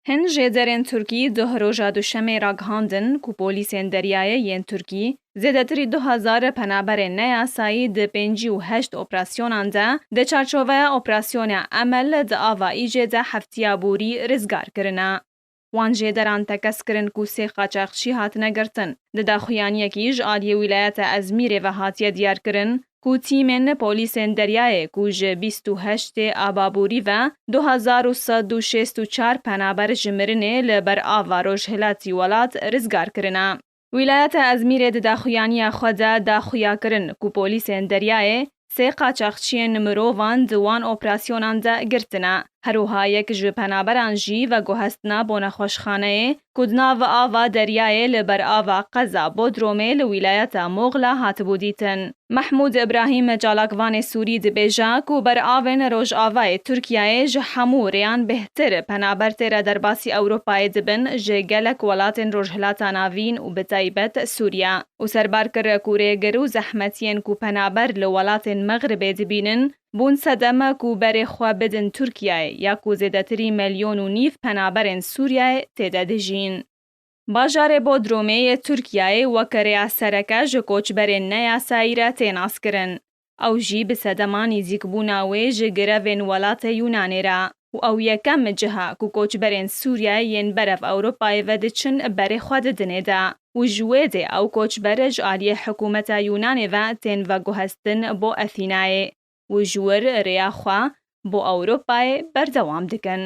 Hin jêderên Tirkî duh roja Duşemê ragihandin ku polîsên deryayê yên Tirkî zêdetirî du hezar penaberên neyasayî di pêncî û heşt operasyonan de di çarçoveya operasyona Emel di ava Îcê de heftiya borî rizgar kirine. Wan jêderan tekez kirin ku sê qaçaxçî hatine girtin. Di daxuyaniyekî ji aliyê wîlayeta Ezmîrê ve hatiye diyarkirin ku tîmên polîsên deryayê ku ji bîst û heştê aba borî ve du hezar û sed û şêst û çar penaber ji mirinê li ber ava rojhilatî welat rizgar kirine. Wîlayeta Ezmîrê di daxuyaniya xwe de da xuya kirin ku polîsên deryayê sê qaçaxçiyên mirovan di wan operasyonan de girtine. Her wiha yek ji penaberan jî veguhestina bo nexweşxaneyê ku di nav ava deryayê li ber ava qeza Bodromê li wîlayeta Moghla hatibû dîtin. Mehmûd Îbrahîm çalakvanê Sûrî dibêje ku beravên Rojavayê Tirkiyeyê ji hemû rêyan bêhtir penaber tê re derbasî Ewropayê dibin ji gelek welatên Rojhilata Navîn û bi taybet Sûriye û serbar kir ku rêgir û zehmetiyên ku penaber li welatên Mexribê dibînin Bûn sedeme ku berê xwe bidin Tirkiyeyê ya ku zêdetirî melyon û nîv penaberên Sûriyeyê tê de dijîn. Bajarê Bodrumê yê Tirkiyeyê weke rêya sereke ji koçberên neyasayî re tê naskirin. Ew jî bi sedema nîzîkbûna wê ji grevên welatê Yûnanê re. û ew yekem ciha ku koçberên Sûriyeyê yên berev Ewropayê vediçin berê xwe didin ê de û ji wê dê ew koçber ji aliyê hikûmeta Yûnanê ve tên veguhestin bo Athînayê û ji wir rêya xwe bo Ewropayê berdewam dikin.